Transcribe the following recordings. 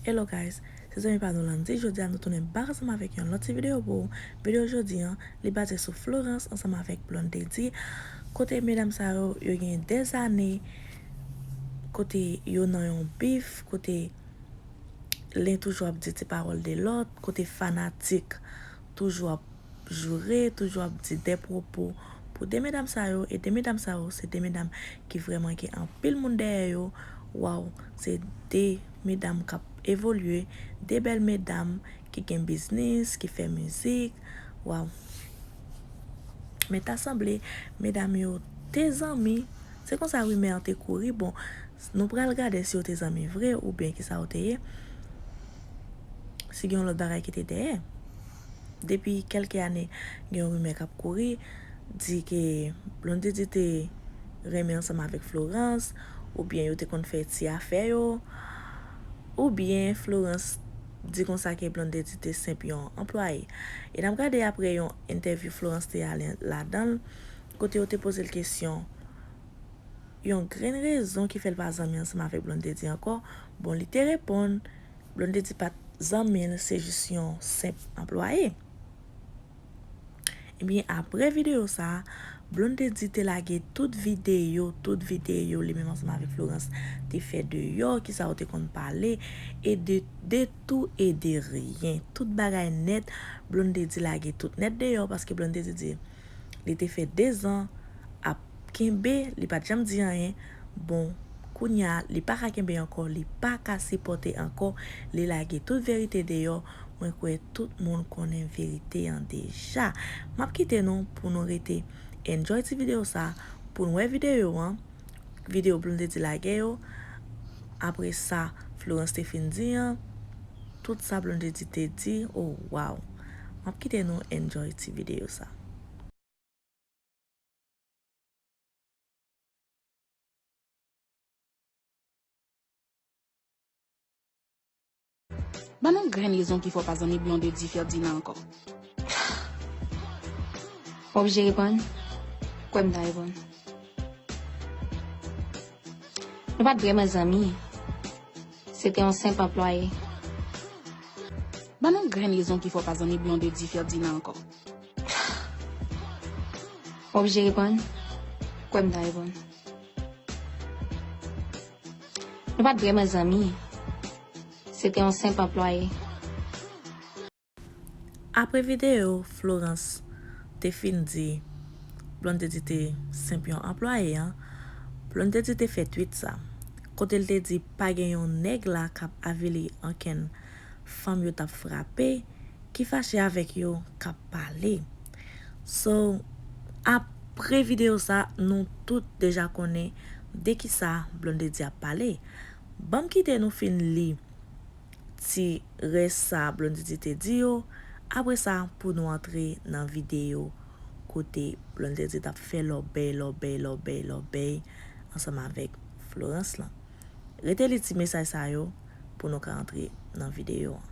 Hello guys, se zanmi pa nou Landy jodi a nou tounen back ansanm avèk yon lòt ti video pou ou, video jodi an li baze sou Florence ansanm avèk Blondedy kote medam sa yo yo gen dè zane kote yo nan yon bif kote len toujou ap di ti pawòl de lòt kote fanatik toujou ap joure, toujou ap di dè pwopo pou de medam sa yo, e de medam sa yo se de medam ki vrèman gen anpil moun dèyè yo, waw se de medam kap evolye, de bèl medam ki gen biznis, ki fè mizik, waw. Men ta sanble medam yo te zanmi, se konsa rimè an te kouri, bon Nou pral gade si yo te zanmi vre oubyen ki sa yo te ye, si gen yon lòt bagay ki te dèyè. Depi kèlke ane, gen yon rimè k ap kouri, di ke Blondedy te renmen ansanm avèk Florence, oubyen yo te konn fè ti afè yo, oubyen Florence di konsa ke Blondedy te senp yon anplwaye. E n ap gade apre yon entèvyou Florence te ale ladan l, kote yo te poze l kesyon yon grenn rezon ki fè l pa zanmi ansanm avèk Blondedy ankò, bon li te reponn Blondedy pa t zanmi l se jis yon senp anplwaye. Ebyen aprè videyo sa, Blondedy te lage tout videyo, tout videyo li menm ansanm avèk Florence te fè deyò, kisa yo te konn pale, e de de tou e de ryen, tout bagay nèt, Blondedy lage tout nèt deyò paske Blondedy di. li te fè 2 zan ap kenbe li pat janm di anyen bon kounya li paka kenbe ankò li paka sipòte ankò li lage tout verite deyò mwen kwè tout moun konnen verite an deja map kite nou pou nou rete enjoy ti video sa poun wè video an. video Blonde te lage yo apre sa Florence te fin di an tout sa Blonde te di oh waw map kite nou enjoy ti video sa. Ban nou grenn rezon ki fè w pa zanmi Blondedy Ferdinand ankò. Wap oblije reponn? Kwè m ta reponn. Nou pat vrèman zanmi. Se te yon senp anplwaye. Ban nou grenn rezon ki fè w pa zanmi Blondedy Ferdinand ankò. Wap oblije reponn? Kwè m ta reponn. Nou pa t vrèman zanmi. Se te yon senp anplwaye. Apre videyo Florence te fin di Blondedy te senp yon anplwaye an, Blondedy te fè tweet sa, kote l te di pa gen yon nèg la k ap avili ankenn fanm yo t ap frape, ki fache avèk yo k ap pale. So apre video sa nou tout deja konnen de kisa Blondedy ap pale. Banm kite nou fin li ti rès sa Blondedy te di yo, apre sa pou nou antre nan video kote Blondedy tap fè lòbèy lòbèy lòbèy lòbèy ansanm avèk Florence lan. Rete li ti mesaj sa yo pou nou ka antre nan video an.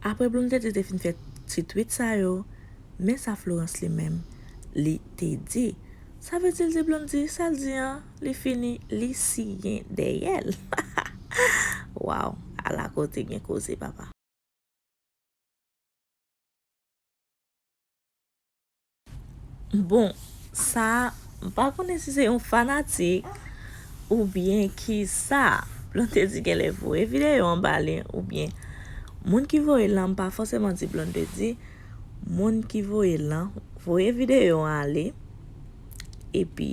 Aprè Blondedy te fin fè ti twit sa yo, men sa Florence li menm li te di, Sa vle di l di Blondy sa l di an, li fini li siyen dèyè l. Waww ala kote gen koze papa. Bon sa m pa konnen si se yon fanatik ou byen ki sa Blondedy genlè voye video an ba li ou byen moun ki voye l lan m pa fòseman di Blondedy moun ki voye l lan voye video an ale epi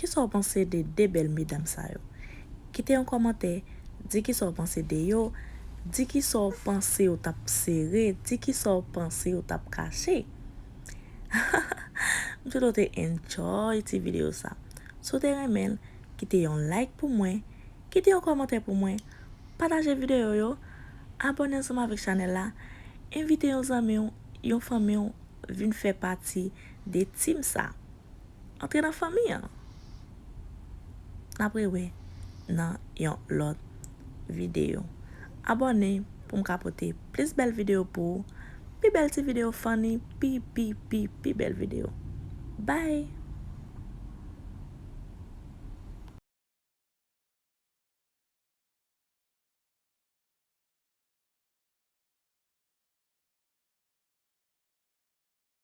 Kisa w panse de 2 bèl medam sa yo? Kite yon kòmantè, di kisa w panse de yo, di kisa w panse yo t ap sere, di kisa w panse yo t ap kache. M swete w te enjoy ti videyo sa. Si w te renmen l, kite yon like pou mwen, kite yon kòmantè pou mwen, pataje videyo yo, abòne ansanm avèk chanèl la, envite yon zanmi w, yon fanmi w vin fè pati 2 team sa antre nan fanmi an nap rewe nan yon lot video abone poum ka pote plis bel video pou ou pi bel ti video funny pi pi pi pi bel video bye.